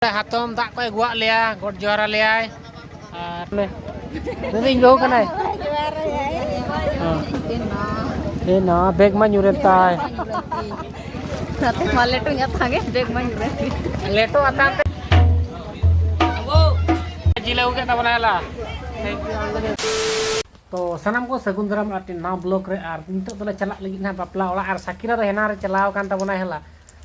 ᱦᱟᱛᱚᱢ ᱫᱟᱜ ᱠᱚᱭ ᱟᱹᱜᱩᱣᱟᱜ ᱞᱮᱭᱟ ᱜᱚᱰ ᱡᱚᱦᱟᱨ ᱟᱞᱮᱭᱟᱭ ᱟᱨ ᱢᱮᱱᱫᱟᱹᱧ ᱵᱟᱹᱦᱩ ᱠᱟᱱᱟᱭ ᱮ ᱱᱟ ᱵᱮᱜᱽ ᱢᱟ ᱧᱩᱨᱮᱱ ᱛᱟᱭ ᱱᱟᱛᱮ ᱢᱟ ᱞᱮᱴᱚ ᱧᱟ ᱛᱟᱸᱜᱮ ᱵᱮᱜᱽ ᱢᱟ ᱧᱩᱨᱮᱱ ᱞᱮᱴᱚ ᱟᱛᱟᱝ ᱛᱮ ᱡᱤᱞ ᱟᱹᱜᱩ ᱠᱮᱫ ᱛᱟᱵᱚᱱᱟ ᱦᱮᱞᱟ ᱛᱚ ᱥᱟᱱᱟᱢ ᱠᱚ ᱥᱟᱹᱜᱩᱱ ᱫᱟᱨᱟᱢ ᱟᱨ ᱱᱟᱣᱟ ᱵᱞᱚᱜ ᱨᱮ ᱟᱨ ᱱᱤᱛᱚᱜ ᱫᱚᱞᱮ ᱪᱟᱞᱟᱜ ᱞᱟᱹᱜᱤᱫ ᱱᱟᱦᱟᱜ ᱵᱟᱯᱞᱟ ᱚᱲᱟᱜ ᱟᱨ ᱥᱟᱠᱤᱨᱟ ᱫᱚ ᱦᱮᱱᱟ ᱨᱮ ᱪᱟᱞᱟᱣ ᱟᱠᱟᱱ ᱛᱟᱵᱚᱱᱟ ᱦᱮᱞᱟ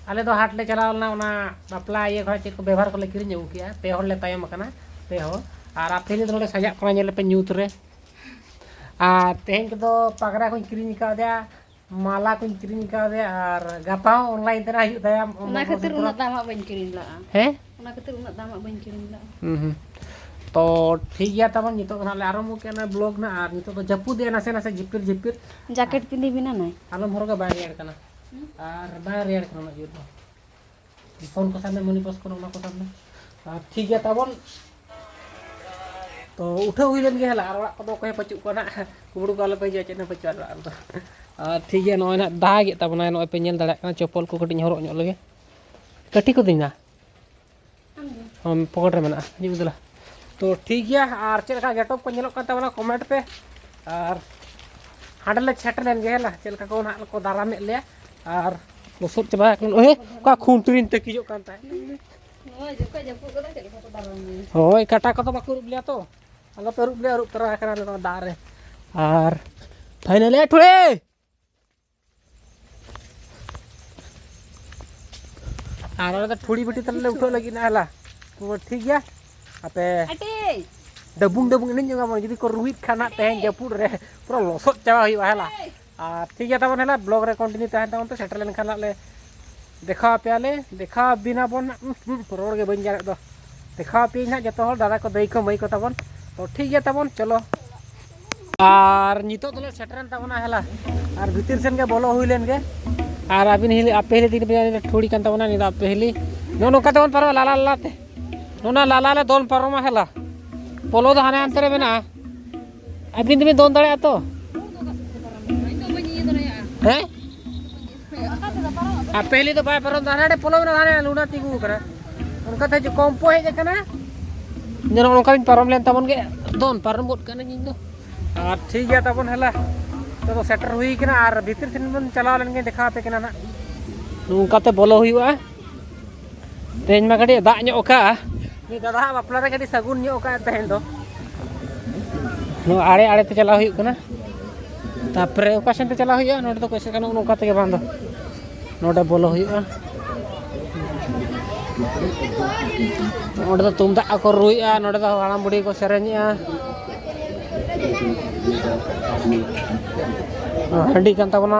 ᱟᱞᱮ ᱫᱚ ᱦᱟᱴ ᱞᱮ ᱪᱟᱞᱟᱣ ᱞᱮᱱᱟ ᱚᱱᱟ ᱵᱟᱯᱞᱟ ᱤᱭᱟᱹ ᱠᱷᱚᱱᱟᱜ ᱪᱮᱫ ᱠᱚ ᱵᱮᱵᱷᱟᱨ ᱠᱚᱞᱮ ᱠᱤᱨᱤᱧ ᱟᱹᱜᱩ ᱠᱮᱜᱼᱟ ᱯᱮ ᱦᱚᱲ ᱞᱮ ᱛᱟᱭᱚᱢ ᱟᱠᱟᱱᱟ ᱯᱮ ᱦᱚᱲ ᱟᱨ ᱟᱯᱮ ᱫᱚ ᱱᱚᱰᱮ ᱥᱟᱡᱟᱜ ᱠᱟᱱᱟ ᱧᱮᱞ ᱞᱮᱯᱮ ᱧᱩᱛ ᱨᱮ ᱟᱨ ᱛᱮᱦᱮᱧ ᱠᱚᱫᱚ ᱯᱟᱜᱽᱨᱟ ᱠᱚᱧ ᱠᱤᱨᱤᱧ ᱟᱠᱟᱫᱮᱭᱟ ᱢᱟᱞᱟ ᱠᱚᱧ ᱠᱤᱨᱤᱧ ᱟᱠᱟᱫᱮᱭᱟ ᱟᱨ ᱜᱟᱯᱟ ᱦᱚᱸ ᱚᱱᱞᱟᱭᱤᱱ ᱛᱮ ᱦᱤᱡᱩᱜ ᱛᱟᱭᱟ ᱚᱱᱟ ᱠᱷᱟᱹᱛᱤᱨ ᱩᱱᱟᱹᱜ ᱫᱟᱢᱟᱜ ᱵᱟᱹᱧ ᱠᱤᱨᱤᱧ ᱞᱟᱜᱼᱟ ᱦᱮᱸ ᱚᱱᱟ ᱠᱷᱟᱹᱛᱤᱨ ᱩᱱᱟᱹᱜ ᱫᱟᱢᱟᱜ ᱵᱟᱹᱧ ᱠᱤᱨᱤᱧ ᱞᱟᱜᱼᱟ ᱦᱩᱸ ᱦᱩᱸ ᱛᱚ ᱴᱷᱤᱠ ᱜᱮᱭᱟ ᱛᱟᱵᱚᱱ ᱱᱤᱛᱚᱜ ᱫᱚ ᱦᱟᱸᱜ ᱞᱮ ᱟᱨᱟᱢᱵᱷᱚ ᱠᱮᱫᱼᱟ ᱱᱚᱜᱼᱚᱭ ᱵᱞᱚᱜᱽ ᱱᱟᱜ ᱟᱨ ᱱᱤᱛᱚᱜ ᱫᱚ ᱡᱟᱹᱯᱩᱫᱮᱜᱼᱟ ᱱᱟᱥᱮ ᱱᱟᱥᱮ ᱡᱷᱤᱯᱤᱨ ᱡᱷᱤᱯᱤᱨ ᱡᱟᱠᱮᱴ ᱯᱤᱸᱫᱤ ᱵᱮᱱᱟ ᱱᱟᱭ ᱟᱞᱚᱢ ᱦᱚᱨᱚᱜᱟ ᱵᱟᱭ ᱨᱮᱭᱟᱲ ᱠᱟᱱᱟ ᱟᱨ ᱵᱟᱝ ᱨᱮᱭᱟᱲ ᱠᱟᱱᱟ ᱩᱱᱟᱹᱜ ᱡᱳᱨ ᱫᱚ ᱯᱷᱳᱱ ᱠᱚ ᱥᱟᱵ ᱢᱮ ᱢᱚᱱᱤ ᱯᱚᱥ ᱠᱚᱨᱮ ᱚᱱᱟ ᱠᱚ ᱥᱟᱵ ᱢᱮ ᱟᱨ ᱴᱷᱤᱠ ᱜᱮᱭᱟ ᱛᱟᱵᱚᱱ ᱛᱚ ᱩᱴᱷᱟᱹᱣ ᱦᱩᱭ ᱞᱮᱱ ᱜᱮᱭᱟ ᱟᱨ ᱚᱲᱟᱜ ᱠᱚᱫᱚ ᱚᱠᱚᱭ ᱯᱟᱹᱪᱩᱜ ᱠᱚᱣᱟ ᱱᱟᱜ ᱠᱩᱢᱲᱩ ᱠᱚ ᱟᱞᱚᱯᱮ ᱦᱤᱡᱩᱜᱼᱟ ᱪᱮᱫ ᱦᱚᱸ ᱯᱟᱹᱪᱩᱜᱼᱟ ᱚᱲᱟᱜ ᱨᱮᱫᱚ ᱟᱨ ᱴᱷᱤᱠ ᱜᱮᱭᱟ ᱱᱚᱜᱼᱚᱭ ᱱᱟᱜ ᱫᱟᱜᱮᱫ ᱛᱟᱵᱚᱱᱟᱭ ᱱᱚᱜᱼᱚᱭ ᱯᱮ ᱧᱮᱞ ᱫᱟᱲᱮᱭᱟᱜ ᱠᱟᱱᱟ ᱪᱚᱯᱚᱞ ᱠᱚ ᱠᱟᱹᱴᱤᱡ ᱦᱚᱨᱚᱜ ᱧᱚᱜ ᱞᱮᱜᱮ ᱠᱟᱹᱴᱤ ᱠᱚᱫᱤᱧ ᱱᱟ ᱦᱚᱸ ᱯᱚᱠᱮᱴ ᱨᱮ ᱢᱮᱱᱟᱜᱼᱟ ᱦᱤᱡᱩᱜ ᱫᱮᱞᱟ ᱛᱚ ᱴᱷᱤᱠ ᱜᱮᱭᱟ ᱟᱨ ᱪᱮᱫ ᱞᱮᱠᱟ ᱜᱮᱴᱚᱯ ᱠᱚ ᱧᱮᱞᱚᱜ ᱠᱟᱱ ᱛᱟᱵᱚᱱᱟ ᱠᱚᱢᱮᱱᱴ ᱯᱮ ᱟᱨ ᱦᱟᱸᱰᱮ ᱞᱮ ᱥᱮᱴᱮᱨ ᱞᱮᱱ ᱜᱮᱭᱟ ᱦᱮᱸ ᱪᱮᱫ ᱞᱮᱠᱟ ᱠᱚ ᱱᱟᱦᱟᱜ ᱠᱚ ᱫᱟᱨᱟᱢᱮᱫ ᱞᱮᱭᱟ ᱟᱨ ᱞᱚᱥᱚᱫ ᱪᱟᱵᱟ ᱟᱠᱟᱱ ᱳᱭ ᱚᱠᱟ ᱠᱷᱩᱱᱴᱨᱤᱧ ᱛᱟᱹᱠᱤᱡᱚᱜ ᱠᱟᱱ ᱛᱟᱦᱮᱸᱫ ᱦᱳᱭ ᱠᱟᱴᱟ ᱠᱚᱫᱚ ᱵᱟᱠᱚ ᱟᱹᱨᱩᱵ ᱞᱮᱭᱟ ᱛᱚ ᱟᱞᱚ ᱯᱮ ᱟᱹᱨᱩᱵ ᱞᱮᱭᱟ ᱟᱹᱨᱩᱵ ᱛᱚᱨᱟ ᱟᱠᱟᱱᱟ ᱱᱚᱣᱟ ᱫᱟᱜ ᱨᱮ ᱟᱨ ᱯᱷᱟᱭᱱᱟᱞᱤ ᱴᱷᱩᱲᱮ ᱟᱨ ᱟᱞᱮ ᱫᱚ ᱴᱷᱩᱲᱤ ᱵᱟᱹᱴᱤ ᱛᱟᱞᱮ ᱩᱴᱷᱟᱹᱜ ᱞᱟᱹᱜᱤᱫ ᱱᱟ ᱦᱮᱞᱟ ᱴᱷᱤᱠ ᱜᱮᱭᱟ ᱟᱯᱮ ᱰᱟᱵᱩᱝ ᱰᱟᱵᱩᱝ ᱮᱱᱮᱡ ᱧᱚᱜᱟ ᱵᱚᱱ ᱡᱩᱫᱤ ᱠᱚ ᱨᱩᱦᱤᱫ ᱠᱷᱟᱱ ᱦᱟᱸᱜ ᱛᱮᱦᱮᱧ ᱡᱟᱹᱯᱩᱫ ᱨᱮ ᱯᱩᱨᱟᱹ ᱞᱚᱥᱚᱫ ᱪᱟᱵᱟ ᱦᱩᱭᱩᱜᱼᱟ ᱦᱮᱞᱟ ᱟᱨ ᱴᱷᱤᱠ ᱜᱮᱭᱟ ᱛᱟᱵᱚᱱ ᱦᱮᱞᱟ ᱵᱞᱚᱜ ᱨᱮ ᱠᱚᱱᱴᱤᱱᱤᱭᱩ ᱛᱟᱦᱮᱱ ᱛᱟᱵᱚᱱ ᱯᱮ ᱥᱮᱴᱮᱨ ᱞᱮᱱᱠᱷᱟᱱ ᱦᱟᱸᱜ ᱞᱮ ᱫᱮᱠᱷᱟᱣ ᱟᱯᱮᱭᱟᱞᱮ ᱫᱮᱠᱷᱟᱣ ᱟᱵᱤᱱᱟ ᱵᱚᱱ ᱨᱚᱲ ᱜᱮ ᱵᱟᱹᱧ ᱜᱟᱱᱮᱫ ᱫᱚ ᱫᱮᱠᱷᱟᱣ ᱟᱯᱮᱭᱟᱹᱧ ᱦᱟᱸᱜ ᱡᱚᱛᱚ ᱦᱚᱲ ᱫᱟᱫᱟ ᱠᱚ ᱫᱟᱹᱭ ᱠᱚ ᱢᱟᱹᱭ ᱠᱚ ᱛᱟᱵᱚᱱ ᱛᱚ ᱴᱷᱤᱠ ᱜᱮᱭᱟ ᱛᱟᱵᱚᱱ ᱪᱚᱞᱚ ᱟᱨ ᱱᱤᱛᱚᱜ ᱫᱚᱞᱮ ᱥᱮᱴᱮᱨᱮᱱ ᱛᱟᱵᱚᱱᱟ ᱦᱮᱞᱟ ᱟᱨ ᱵᱷᱤᱛᱤᱨ ᱥᱮᱱ ᱜᱮ ᱵᱚᱞᱚ ᱦᱩᱭ ᱞᱮᱱ ᱜᱮ ᱟᱨ ᱟᱹᱵᱤᱱ ᱦᱤᱞᱤ ᱟᱯᱮ ᱦᱤᱞᱤ ᱫᱤᱱ ᱵᱮᱡᱟᱭ ᱴᱷᱩᱲᱤ ᱠᱟᱱ ᱛᱟᱵᱚᱱᱟ ᱱᱤᱛᱚᱜ ᱟᱯᱮ ᱦᱤᱞᱤ ᱱᱚᱜᱼᱚ ᱱᱚᱝᱠᱟ ᱛᱮᱵᱚᱱ ᱯᱟᱨᱚᱢᱟ ᱞᱟᱞᱟ ᱞᱟᱞᱟᱛᱮ ᱱᱚᱣᱟ ᱞᱟᱞᱟ ᱞᱮ ᱫᱚᱱ ᱯᱟᱨᱚᱢᱟ ᱦᱮᱞᱟ ᱯᱚᱞᱚ ᱫᱚ ᱦᱟᱱᱮ ᱦᱟᱱᱛᱮ ᱨᱮ ᱢᱮᱱᱟᱜᱼᱟ ᱟᱹᱵᱤᱱ ᱫᱚᱵᱤᱱ ᱫᱚᱱ ᱫᱟᱲᱮᱭᱟᱜᱼᱟ ᱛᱚ ᱦᱮᱸ ᱟᱨ ᱯᱮᱦᱞᱤ ᱫᱚ ᱵᱟᱭ ᱯᱟᱨᱚᱢ ᱫᱟ ᱦᱟᱱᱮ ᱯᱚᱞᱚᱢ ᱨᱮ ᱦᱟᱱᱮ ᱞᱩᱰᱟ ᱛᱤᱸᱜᱩ ᱟᱠᱟᱱᱟ ᱚᱱᱠᱟ ᱛᱮ ᱦᱤᱡᱩᱜ ᱠᱚᱢᱯᱚ ᱦᱮᱡ ᱟᱠᱟᱱᱟ ᱡᱮᱱᱚ ᱚᱱᱠᱟ ᱵᱤᱱ ᱯᱟᱨᱚᱢ ᱞᱮᱱ ᱛᱟᱵᱚᱱ ᱜᱮ ᱫᱚᱱ ᱯᱟᱨᱚᱢ ᱜᱚᱫ ᱠᱟᱹᱱᱟᱹᱧ ᱤᱧ ᱫᱚ ᱟᱨ ᱴᱷᱤᱠ ᱜᱮᱭᱟ ᱛᱟᱵᱚᱱ ᱦᱮᱞᱟ ᱱᱤᱛᱚᱜ ᱫᱚ ᱥᱮᱴᱮᱨ ᱦᱩᱭ ᱟᱠᱟᱱᱟ ᱟᱨ ᱵᱷᱤᱛᱤᱨ ᱥᱮᱱ ᱵᱚᱱ ᱪᱟᱞᱟᱣ ᱞᱮᱱ ᱜᱮ ᱫᱮᱠᱷᱟᱣ ᱟᱯᱮ ᱠᱟᱱᱟ ᱱᱟᱦᱟᱜ ᱱᱚᱝᱠᱟᱛᱮ ᱵᱚᱞᱚ ᱦᱩᱭᱩᱜᱼᱟ ᱛᱮᱦᱮᱧ ᱢᱟ ᱠᱟᱹᱴᱤᱡ ᱫᱟᱜ ᱧᱚᱜ ᱟᱠᱟᱜᱼᱟ ᱱᱤᱛ ᱫᱟᱫᱟ ᱦᱟᱸᱜ ᱵᱟᱯᱞᱟ ᱨᱮ ᱠᱟᱹᱴᱤᱡ ᱥᱟᱹᱜᱩᱱ ᱧᱚᱜ ᱟᱠᱟᱜᱼᱟ ᱛᱮᱦᱮᱧ ᱫᱚ ᱱᱚᱣᱟ ᱟᱲᱮ ᱟᱲᱮ ᱛᱮ ᱪᱟᱞᱟᱣ ᱦᱩᱭᱩᱜ ᱠᱟᱱᱟ ᱛᱟᱯᱚᱨᱮ ᱚᱠᱟ ᱥᱮᱱ ᱛᱮ ᱪᱟᱞᱟᱣ ᱦᱩᱭᱩᱜᱼᱟ ᱱᱚᱰᱮ ᱫᱚ ᱠᱚᱭᱥᱮ ᱜᱟᱱᱚᱜ ᱱᱚᱝᱠᱟ ᱛᱮᱜᱮ ᱵᱟᱝ ᱫᱚ ᱱᱚᱰᱮ ᱵᱚᱞᱚ ᱦᱩᱭᱩᱜᱼᱟ ᱱᱚᱰᱮ ᱫᱚ ᱛᱩᱢᱫᱟᱜ ᱠᱚ ᱨᱩᱭᱮᱜᱼᱟ ᱱᱚᱰᱮ ᱫᱚ ᱦᱟᱲᱟᱢ ᱵᱩᱲᱦᱤ ᱠᱚ ᱥᱮᱨᱮᱧᱮᱜᱼᱟ ᱦᱟᱺᱰᱤ ᱠᱟᱱ ᱛᱟᱵᱚᱱᱟ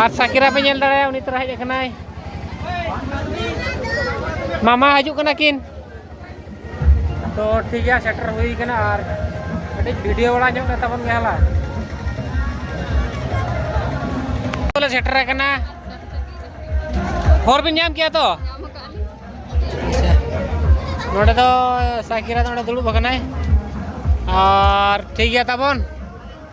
ᱟᱨ ᱥᱟᱠᱤᱨᱟ ᱯᱮ ᱧᱮᱞ ᱫᱟᱲᱮᱭᱟ ᱩᱱᱤ ᱛᱚᱨᱟ ᱦᱮᱡ ᱟᱠᱟᱱᱟᱭ ᱢᱟᱢᱟ ᱦᱤᱡᱩᱜ ᱠᱟᱱᱟ ᱠᱤᱱ ᱛᱚ ᱴᱷᱤᱠ ᱜᱮᱭᱟ ᱥᱮᱴᱮᱨ ᱦᱩᱭ ᱠᱟᱱᱟ ᱟᱨ ᱠᱟᱹᱴᱤᱡ ᱵᱷᱤᱰᱤᱭᱳ ᱵᱟᱲᱟ ᱧᱚᱜ ᱠᱟᱛᱟ ᱵᱚᱱ ᱜᱮᱭᱟ ᱦᱟᱞᱟ ᱞᱮ ᱥᱮᱴᱮᱨ ᱟᱠᱟᱱᱟ ᱦᱚᱨ ᱵᱤᱱ ᱧᱟᱢ ᱠᱮᱭᱟ ᱛᱚ ᱱᱚᱰᱮ ᱫᱚ ᱥᱟᱠᱤᱨᱟ ᱫᱚ ᱱᱚᱰᱮ ᱫᱩᱲᱩᱵ ᱟᱠᱟᱱᱟᱭ ᱟᱨ ᱴᱷᱤᱠ ᱜᱮᱭᱟ ᱛᱟᱵᱚᱱ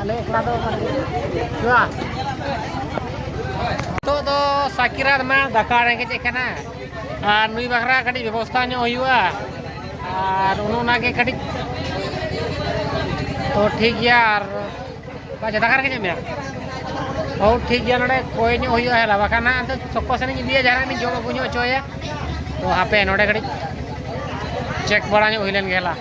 ᱟᱞᱮ ᱮᱠᱞᱟ ᱫᱚ ᱡᱚᱦᱟᱨ ᱱᱤᱛᱚᱜ ᱫᱚ ᱥᱟᱠᱤᱨᱟᱛ ᱢᱟ ᱫᱟᱠᱟ ᱨᱮᱸᱜᱮᱡ ᱠᱟᱱᱟ ᱟᱨ ᱱᱩᱭ ᱵᱟᱠᱷᱨᱟ ᱠᱟᱹᱴᱤᱡ ᱵᱮᱵᱚᱥᱛᱷᱟ ᱧᱚᱜ ᱦᱩᱭᱩᱜᱼᱟ ᱟᱨ ᱚᱱᱟᱜᱮ ᱠᱟᱹᱴᱤᱡ ᱛᱚ ᱴᱷᱤᱠ ᱜᱮᱭᱟ ᱟᱨ ᱟᱪᱪᱷᱟ ᱫᱟᱠᱟ ᱨᱮᱸᱜᱮᱡ ᱢᱮᱭᱟ ᱦᱳ ᱴᱷᱤᱠ ᱜᱮᱭᱟ ᱱᱚᱰᱮ ᱠᱚᱭ ᱧᱚᱜ ᱦᱩᱭᱩᱜᱼᱟ ᱦᱮᱞᱟ ᱵᱟᱠᱷᱟᱱ ᱦᱟᱸᱜ ᱟᱫᱚ ᱥᱚᱠᱚ ᱥᱮᱱ ᱤᱧ ᱤᱫᱤᱭᱟ ᱡᱟᱦᱟᱸ ᱨᱮ ᱡᱚᱢ ᱟᱹᱜᱩ ᱧᱚᱜ ᱦᱚᱪᱚᱭᱟ ᱛᱚ ᱦᱟᱯᱮ ᱱᱚᱰᱮ ᱠᱟᱹᱴᱤᱡ ᱪᱮᱠ ᱵᱟᱲᱟ ᱧᱚᱜ ᱦᱩᱭ ᱞᱮᱱ ᱜᱮ ᱦᱮᱞᱟ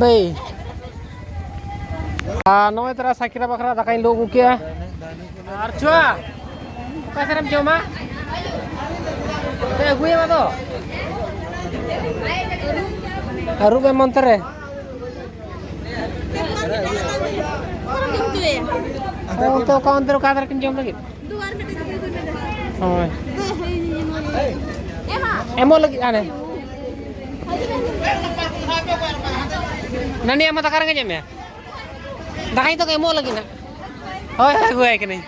ᱵᱟᱹᱭ ᱟᱨ ᱱᱚᱜᱼᱚᱭ ᱛᱟᱨᱟ ᱥᱟᱠᱨᱟ ᱵᱟᱠᱨᱟ ᱫᱟᱠᱟᱧ ᱞᱩ ᱟᱹᱜᱩ ᱠᱮᱜᱼᱟ ᱟᱨ ᱪᱩᱣᱟ ᱚᱠᱟ ᱥᱮᱨᱮᱢ ᱡᱚᱢᱟ ᱟᱹᱜᱩᱭᱟᱢ ᱟᱫᱚ ᱟᱹᱨᱩᱵ ᱮᱢ ᱚᱱᱛᱮ ᱨᱮ ᱚᱱᱛᱮ ᱚᱠᱟ ᱚᱱᱛᱮ ᱚᱠᱟ ᱫᱷᱟᱨᱮ ᱠᱤᱱ ᱡᱚᱢ ᱞᱟᱹᱜᱤᱫ ᱦᱳᱭ ᱮᱢᱚᱜ ᱞᱟᱹᱜᱤᱫ ᱦᱟᱱᱮ ᱱᱟᱹᱱᱤ ᱟᱢ ᱫᱟᱠᱟ ᱨᱮᱸᱜᱮᱡ ᱢᱮᱭᱟ ᱫᱟᱠᱟᱧ ᱛᱚ ᱮᱢᱚᱜ ᱞᱟᱹᱜᱤᱫ ᱱᱟᱜ ᱦᱳᱭ ᱟᱹᱜᱩᱣᱟᱭ ᱠᱟᱹᱱᱟᱹᱧ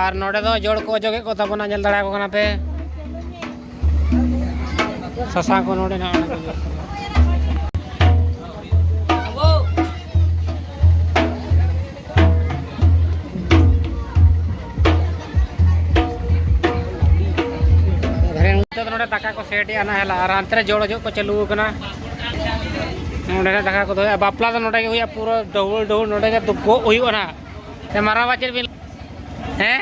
ᱟᱨ ᱱᱚᱰᱮ ᱫᱚ ᱡᱚᱲ ᱠᱚ ᱚᱡᱚᱜᱮᱫ ᱠᱚ ᱛᱟᱵᱚᱱᱟ ᱧᱮᱞ ᱫᱟᱲᱮᱭᱟᱠᱚ ᱠᱟᱱᱟ ᱯᱮ ᱥᱟᱥᱟᱝ ᱠᱚ ᱱᱚᱰᱮ ᱱᱟᱜ ᱫᱟᱠᱟ ᱠᱚ ᱥᱮᱴ ᱮᱜᱼᱟ ᱱᱟᱦᱮᱞ ᱟᱨ ᱦᱟᱱᱛᱮ ᱨᱮ ᱡᱚᱲ ᱚᱡᱚᱜ ᱠᱚ ᱪᱟᱹᱞᱩ ᱟᱠᱟᱱᱟ ᱱᱚᱰᱮ ᱨᱮ ᱫᱟᱠᱟ ᱠᱚ ᱫᱚᱦᱚᱭᱟ ᱵᱟᱯᱞᱟ ᱫᱚ ᱱᱚᱰᱮ ᱜᱮ ᱦᱩᱭᱩᱜᱼᱟ ᱯᱩᱨᱟᱹ ᱰᱟᱹᱦᱩᱲ ᱰᱟᱹᱦᱩᱲ ᱱᱚᱰᱮ ᱜᱮ ᱫᱩᱯᱩᱜ ᱦᱩᱭᱩᱜᱼᱟ ᱱᱟᱦᱟᱜ ᱢᱟᱨᱟᱝᱵᱟ ᱪᱮᱫ ᱵᱤᱱ ᱦᱮᱸ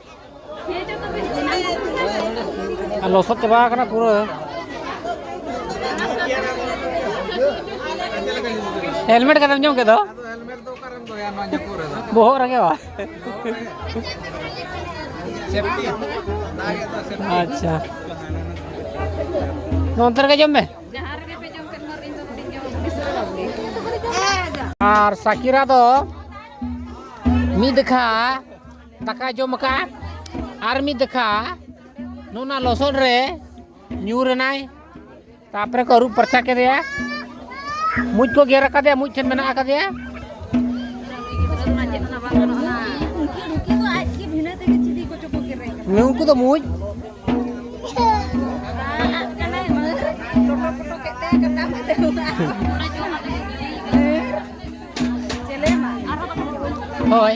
ᱟᱨ ᱞᱚᱥᱚᱫ ᱪᱟᱵᱟ ᱟᱠᱟᱱᱟ ᱯᱩᱨᱟᱹ ᱦᱮᱞᱢᱮᱴ ᱠᱟᱛᱮᱢ ᱧᱚᱢ ᱠᱮᱫᱟ ᱵᱚᱦᱚᱜ ᱨᱮᱜᱮ ᱵᱟ ᱟᱪᱪᱷᱟ ᱱᱚᱱᱛᱮ ᱨᱮᱜᱮ ᱡᱚᱢ ᱢᱮ ᱟᱨ ᱥᱟᱠᱤᱨᱟ ᱫᱚ ᱢᱤᱫ ᱫᱮᱠᱷᱟ ᱫᱟᱠᱟ ᱡᱚᱢ ᱟᱠᱟᱫ ᱟᱨ ᱢᱤᱫ ᱫᱟᱠᱟ ᱱᱚᱣᱟ ᱞᱚᱥᱚᱫ ᱨᱮ ᱧᱩᱨ ᱮᱱᱟᱭ ᱛᱟᱯᱚᱨᱮ ᱠᱚ ᱟᱹᱨᱩᱵ ᱯᱟᱨᱪᱟ ᱠᱮᱫᱮᱭᱟ ᱢᱩᱡ ᱠᱚ ᱜᱮᱨ ᱟᱠᱟᱫᱮᱭᱟ ᱢᱩᱡ ᱴᱷᱮᱱ ᱢᱮᱱᱟᱜ ᱟᱠᱟᱫᱮᱭᱟ ᱱᱩᱠᱩ ᱫᱚ ᱢᱩᱡ ᱦᱳᱭ